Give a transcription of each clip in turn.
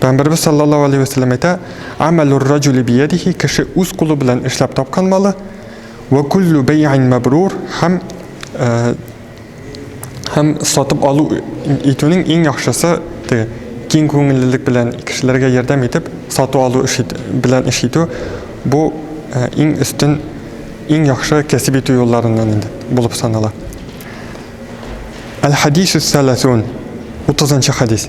Пәйгамбәребез саллаллаһу алейһи вә сәлләм әйтә, Амәлүр-раҗүли биядихи, кеше үз кулы белән эшләп тапкан малы, вә куллу бәйгәйн мәбрур, һәм һәм сатып алу итүнең иң яхшысы те, киң күңеллелек белән кешеләргә ярдәм итеп, сату алу эш ит, белән эш итү, бу иң өстен, иң яхшы кәсеп итү юлларыннан инде булып санала. Әл-хадисүс сәләсун, 30 нчы хадис.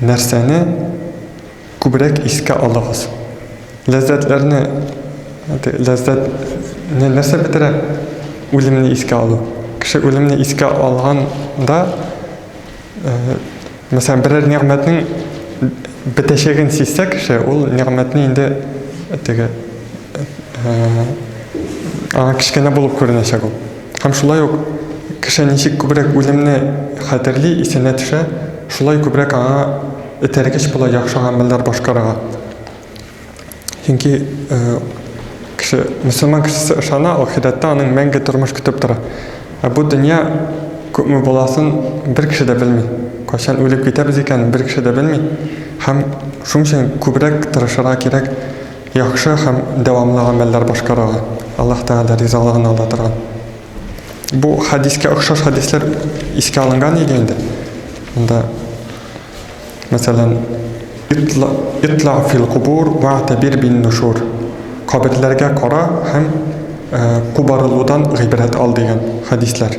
Нәрсәне күбрәк искә алыгыз? Ләззәтләрне, ләззәт не нәрсә бетерә? Үлемне искә алу. Кеше үлемне искә алган да, мәсәлән, берәр нигъмәтнең бетәчәген сизсә кеше, ул нигъмәтне инде теге, аңа кечкенә булып күренәчәк ул. Һәм шулай ук кеше ничек күбрәк үлемне хәтерли, исенә төшә, шулай күбрәк аңа этәргеч була яхшы гамәлләр башкарырга. Чөнки кеше, мөселман кешесе ышана, ахирәттә аның мәңге тормыш көтеп тора. Ә бу дөнья күпме буласын бер кеше дә белми. Кайчан үлеп китәбез икәнен бер кеше дә белми. Һәм шуның өчен күбрәк тырышырга кирәк. Яхшы һәм дәвамлы гамәлләр башкарырга, Аллаһ Тәгалә ризалыгын ала торган. Бу хәдискә охшаш хәдисләр искә алынган иде инде. Монда, мәсәлән, итла, итла фил кубур ва табир бин нушур. Каберләргә кара һәм э, кубарылудан гыйбрәт ал дигән хәдисләр.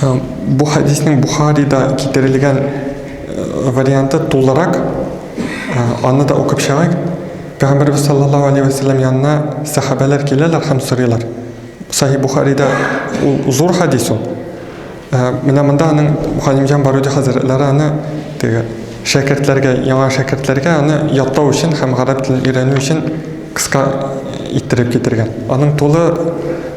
Бу хәдиснең Бухарида китерелгән варианты тулырак, аны да укып чыгыйк. Пәйгамбәрбез саллаллаһу алейһи ва сәлләм янына сәхабәләр киләләр һәм сорыйлар. Сахи Бухарида ул зур хәдис ул. Менә монда аның Галимҗан Баруди хәзрәтләре аны теге шәкертләргә, яңа шәкертләргә аны ятлау өчен һәм гарәп телен өйрәнү өчен кыска иттереп китергән. Аның тулы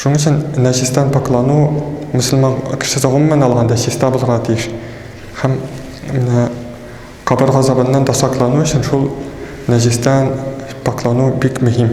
Шуның өчен нәҗестән пакълану мөселман кешесе гомумән алганда чиста булырга тиеш. Һәм менә кабер газабыннан да саклану өчен шул нәҗестән пакълану бик мөһим.